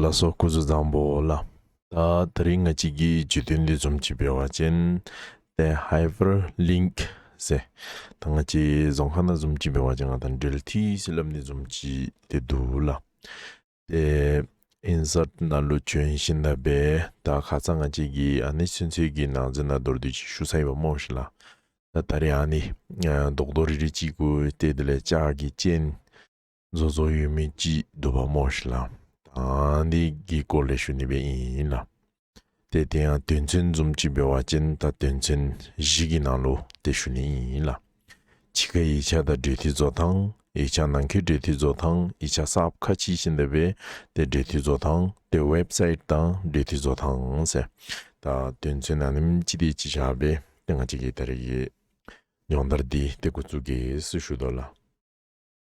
ལ་སོགས་སྐུ་གཟུགས་བཟང་པོ་ལ། ད་རིང་ང་གཅིག་གིས་རྒྱུད་དོན་འདི་རྩོམ་བྱེད་པའི་བ་ཅན། ཏེ། Hyperlink། ཟེ། ད་ང་གཅིག་རྫོང་ཁ་ན་རྩོམ་བྱེད་པའི་བ་ཅན་ང་དང་འབྲེལ་ཐིག་བྱིན་རླབས་ནི་རྩོམ་བྱེད་དེ་འདུག་ལ། ཏེ། Insert ན་ལོ་བྱོན་བཞིན་ད་པས་ད་ག་ཚ་ང་གཅིག་གིས་ཨ་ནི་ཚུན་ཆད་ཀྱི་ནང་ཚན་ན་མདོར་བསྡུས་ཅིག་ཞུ་ས་ཡོད་པ་སྨྲོས་ཤིག་ལ། ད་ད་རེ་ཨ་ནི། རྡོག་རྡོག་རིལ་རིལ་གཅིག་གུ་སྟེ་དེ་ལས་ལྕགས་ཀྱི་སྤྱན། བཟོ་བཟོ་ཡོད་མེད་ཅི་འདོད་པ་སྨྲོས་ཤིག་ལ། དང་འདི་གི་སྐོར་ལས་ཞུ་ནུས་པའི་ཨིན་ཡིན་ལ། དེ་དེ་ཡང་དོན་ཚན་འཛོམས་ཀྱི་འབེལ་བ་ཅན་དང་དོན་ཚན་བཞི་གི་ནང་ལོ་དེ་ཞུ་ནུས་ཨིན་ཡིན་ལ། འཆི་ཁ་ཡིག་ཆ་དང་འབྲེལ་མཐུད་བཟོ་དང་ཡིག་ཆ་ནང་ཁའི་འབྲེལ་མཐུད་བཟོ་དང་ཡིག་ཆ་སབ་ཁ་ཅི་ཞིག་འདོད་པའི་དེ་འབྲེལ་མཐུད་བཟོ་དང་དེ་ཝེབ་སཱིད་དང་འབྲེལ་མཐུད་བཟོ་དང་ཟེར། ད་དོན་ཚན་ནང་ནིམ་ཅི་དེ་ཅི་བྱ་བའི་དེ་ང་ཅི་གི་ད་རེ་གི། སྙོང་དར་འདི་དེ་འགོ་བཙུགས་གིས་ཞུ་དོ་ལ།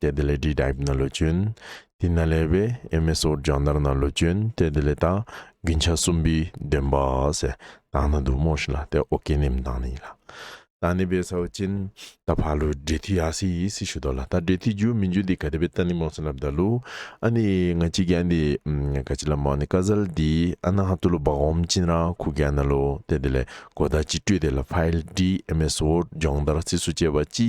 གཏད་དེ་ལས་བྲིས་དྲིབ་ན་ལོ་གྱོན། དེ་ན་ལས་བས་ཨེ་མེ་སོར་སྦྱང་དར་ན་ལོ་གྱོན་གཏད་དེ་ལས་དག་གིན་ཆ་གསུམ་པའི་འདོན་པ་ཟེ་དང་ན་དུ་མོ་ཤི་ལ་ཏའི་ཨོ་ཀེ་ནེམ་དང་ན་ཡི་ལ་དང་ནི་བས་སའོ་ཅིན་ད་བྷ་ལུ་འདྲེ་ཐི་ཡ་སི་ཡིས་སི་ཤུ་དོ་ལ་ད་འདྲེ་ཐི་རྒྱུ་མི་འཇུ་འདི་ག་དེ་བས་ཏ་ནི་མོ་སི་ལ་བདའ་ལུ་ཨ་ནི་ང་གཅིག་གི་ཨ་འདི་ག་ཅི་ལ་མོ་ཨ་ནི་ཀ་ཟལ་འདི་ཨ་ན་ཧ་ཏུ་ལུ་བག་འོམ་ཅིན་ར་ཁུ་གེ་ཨ་ན་ལོ་གཏད་དེ་ལས་གོ་ད་ཅི་སྤྲོས་དེ་ལ་བྷལ་འདྲིས་ཨེ་མེ་སོར་སྦྱང་དར་སི་སུ་བཅས་པ་ཅི།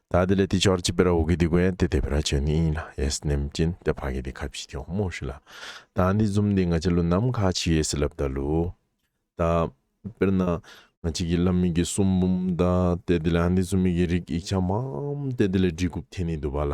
ད་དེ་ལས་དེ་ཆོར་ཅི་པེར་འོ་གི་དེ་གོ་ཡན་དེ་དེ་པེར་ཆོས་ནི་ཡིན་ལ་ཡེས་ནེམ་ཅིན་དེ་ཕ་གི་དེ་ཁ་བྱི་དེ་འོ་མོ་ཤི་ལ། ད་འདི་འཛུམ་དེ་ང་ཅི་ལོ་ནམ་ཁ་ཆི་ཡེས་ལབ་ད་ལུ། ད། པེར་ན། ང་ཅི་གི་ལ་མི་གི་སུམ་བུམ་ད་དེ་དེ་ལ་འདི་ཚུ་མི་གི་རིག་ཡིག་ཆ་མའམ་དེ་དེ་ལས་འབྲི་གུབ་དེ་ནི་དུ་བ་ལ།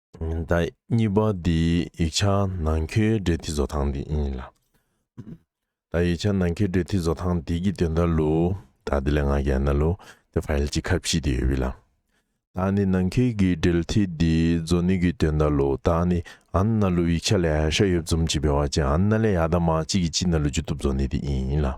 ཟླ་གཉིས་པ་འདིའི་ཡིག་ཆ་ནང་ཁྱོད་འབྲེལ་མཐུད་བཟོ་སྟངས་འདི་ཡིན་ལ། ད་ཡིག་ཆ་ནང་ཁྱོད་འབྲེལ་མཐུད་བཟོ་སྟངས་འདི་གི་དོན་དར་ལུ། ད་འདི་ལས་ང་གན་ན་ལུ། དེ་ཕ་ཡལ་གྱི་ཁ་བྱིས་དེ་ཡོད་བི་ལ། ད་ནི་ནང་ཁྱོད་ཀྱི་འབྲེལ་མཐུད་འདི་བཟོ་ནུས་ཀྱི་དོན་དར་ལུ། ད་ནི་ཨན་ན་ལུ་ཡིག་ཆ་ལས་ཧ་ཤ་ཡོད་འཛོམས་ཀྱི་བེ་བ་ཅན་ཨན་ན་ལས་ཡ་ད་མ་གཅིག་གི་གཅིག་ན་ལུ་ཅུ་ཏུབ་བཟོ་ནུས་འདི་ཡིན་ལ།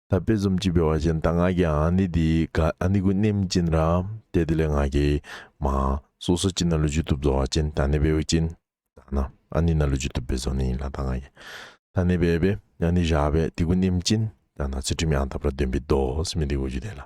ད་དཔེ་རྩོམ་སྤྱི་པའི་བ་ཅན་ད་ང་གི་ཨ་ནི་དེའི་ག་ཨ་ནི་གུ་ནེམ་ཅིན་ར་དེ་དེ་ལས་ང་གི་མ་སོ་སོ་ཅི་ན་ལུ་ཇུ་ཏུབ་ཛོ་བ་ཅན་ད་ནི་བེ་བུ་ཅིན་ད་ན་ཨ་ནི་ན་ལུ་ཇུ་ཏུབ་བེ་ཛོ་ནི་ཡིན་ལ་ད་ང་གི་ད་ནི་བེ་བེ་ཨ་ནི་བཞག་བེ་དེ་གུ་ནེམ་ཅིན་ད་ན་ཚུལ་ཁྲིམས་ཡང་དག་པར་སྟོན་པའི་མདོ་སྨིན་དེ་གོ་རྒྱུ་དེ་ལ།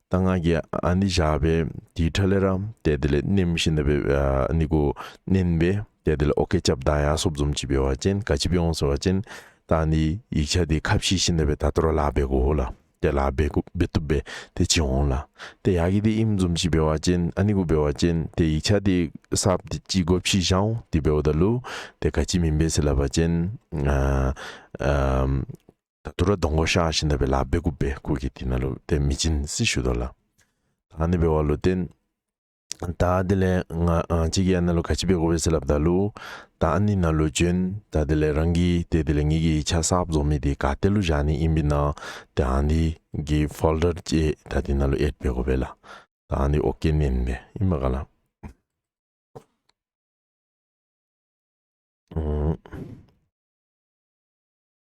ད་ང་གི་ཨ་ནི་བཞག་པའི་དེའི་ཁྲ་ལེ་ར་དེ་དེ་ལས་ནིམ་ཤིན་ད་པའི་ནི་གུ་ནིན་པའི་དེ་དེ་ལས་ཨོ་ཀེ་ཅབ་དང་ཡ་སོབ་ཛོམ་ཅི་པའི་བ་ཅན་ག་ཅི་པའི་ཨོང་སོ་བ་ཅན་ད་ནི་ཡིག་ཆ་དེ་ཁ་བྱིས་ཤིན་ད་པའི་ད་དོར་ལ་བེ་གུ་ཧོ་ལ་དེ་ལ་བེ་གུ་བེ་ཏུབ་པའི་དེ་ཅི་ཧོང་ལ་དེ་ཡ་གི་དེ་ཨིམ་ཛོམ་ཅི་པའི་བ་ཅན་ཨ་ནི་གུ་པའི་བ་ཅན་དེ་ཡིག་ཆ་དེ་སབ་དེ་ཅི་གོ་བྱིས་ཤའོ་དེ་བེ་ཨོ་ད་ལུ་དེ་ག་ཅི་མིན་པའི་སི་ལ་བ་ཅན་ཨ། ད་དུ་ར་དོང་གོ་ཤ་ཤི་ན་བེ་ལ་བེ་གུ་བེ་གུ་གི་དི་ན་ལུ་ཏན་མི་ཅིན་སི་ཤུ་དོ་ལ། ད་ནི་བེ་བ་ལུ་ཏན། ད་དེ་ལེ་ང་ཅི་གི་ཨ་ན་ལུ་ག་ཅི་བེ་གོ་བེ་སི་ལ་བ་ད་ལུ། ད་ཨ་ནི་ན་ལུ་ཅོན་ད་དེ་ལེ་རང་གི་དེ་དེ་ལེ་ངེད་གི་ཆ་སག་བཟོ་མི་དེ་ག་ཏེ་ལུ་བཞག་ནི་ཨིན་བི་ན་དེ་ཨ་ནི་གི་ཕོལ་དར་ཅེ་ད་དེ་ན་ལུ་ཨེད་བེ་གོ་བེ་ལ། ད་ཨ་ནི་ཨོ་ཀེ་ནན་བེ་ཨིན་བ་ག་ལ།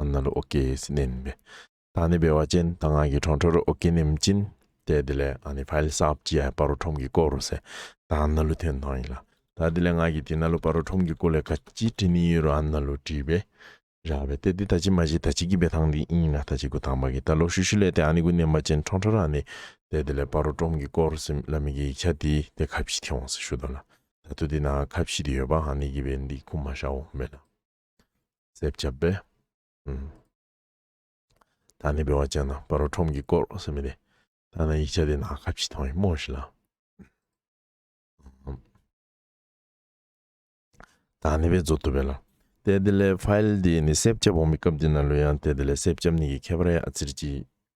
ཨུམ། ཨ་ན་རུ་ཨོ་ཀེ་ཡེ་སི་བསྣན་པས། ད་ནི་བེ་བ་ཅན་ད་ང་གི་ཁྲོང་ཁྲོ་རུ་ཨོ་ཀེ་ནིམ་ཅིན། དེ་དེ་ལས་ཨ་ནི་བྷ་ལི་སབ་ཅི་ཡའི་བ་རོ་ཁྲོམ་གི་སྐོ་རུ་སེ་ད་ཨ་ན་རུ་ཐེན་ཐོང་ཡིན་ལ། ད་དེ་ལས་ང་གི་དེ་ན་རུ་བ་རོ་ཁྲོམ་གི་སྐོ་ལས་ག་ཅི་དྲི་ནི་ཡོད་རུ་ཨ་ན་རུ་དྲིས་པས། ར་བས་དེ་དེ་ད་ཅི་མ་ཞིག་ད་ཅི་གི་བེ་ཐང་དེ་ཨིན་ཡིན་ལ་ད་ཅི་གུ་ཐང་བ་གི་ད་ལོ་ཤུ་ཤུ་ལས་དེ་ཨ་ནི་གུ་ནེམ་བ་ཅན་ཁྲོང་ཁྲོ་ར་ནི་དེ་དེ་ལས་བ་རོ་ཁྲོམ་གི་སྐོ་རུ་སིམ་ལ་མི་གི་ཡིག་ཆ་དེ་དེ་ག་བཞི་ཐེ་འོང་སེ་ཤུ་དོ་ལ། ད་དུ་དེ་ན་ཁ་བཤིག་དེ་ཡོད་པ་ཧ་ནི་གི་བའི་འདི་ཁུ་མ་ཤའོ་མེ་ལ་སེབ་ཆབ་པེ་ཨུམ་ད་ནི་བེ་བ་ཅན་ན་པ་རོ་ཁྲོམ་གི་སྐོར་རོ་སེ་མེ་དེ་ད་ན་ཡིག་ཆ་དེ་ན་ཁ་བཤིག་ཐང་ཡི་མོ་ཤི་ལ་ད་ནི་བེ་ཛོ་ཏུ་བེ་ལ་དེ་དེ་ལས་ཕཱེལ་དེ་ནི་སེབ་ཆབ་བོ་མི་སྐབས་དེ་ན་ལོ་ཡང་དེ་དེ་ལས་སེབ་ཆབ་ནི་གི་ཁེ་པ་ར་ཡ་ཨ་ཚིར་གྱི་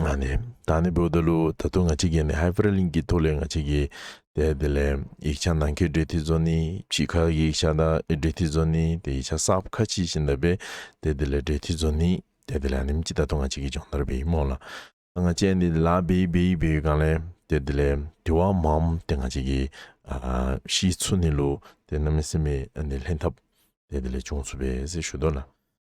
ཨ་ནི། ད་ནི་བོད་ད་ལུགས་ད་ཐུག་ང་གཅིག་གིས་ནི Hyperlink གི་ཐུགས་ལས་ང་གཅིག་གིས་དེ་དེ་ལས་ཡིག་ཆ་ནང་ཁའི་འབྲེལ་མཐུད་ཚོ་ནི་ཕྱི་ཁ་གི་ཡིག་ཆ་དང་འབྲེལ་མཐུད་ཚོ་ནི་དེ་ཡིག་ཆ་གསབ་ཁ་ཕྱིས་བཞིན་ད་པས་དེ་དེ་ལས་འབྲེལ་མཐུད་ཚོ་ནི་དེ་དེ་ལས་ཨ་ནིམ་གཅིག་ད་ཐུག་ང་གཅིག་གིས་སྦྱོང་བརྡར་བེའི་རྨོངས་ལ་ད་ང་བཅས་ནི་དེ་ལ་བེའི་བེའི་བེའི་གང་ལས་དེ་དེ་ལས་དེ་བ་འམ་དེ་ང་གཅིག་གིས་ཤིས་ཚུ་ནི་ལུགས་དེ་རྣམ་སྨིན་སེམས་མེད་ཨ་ནི་ལྷན་ཐབས་དེ་དེ་ལས་བྱུང་ཚུ་བས་ཟེར་ཞུ་དོ་ལ།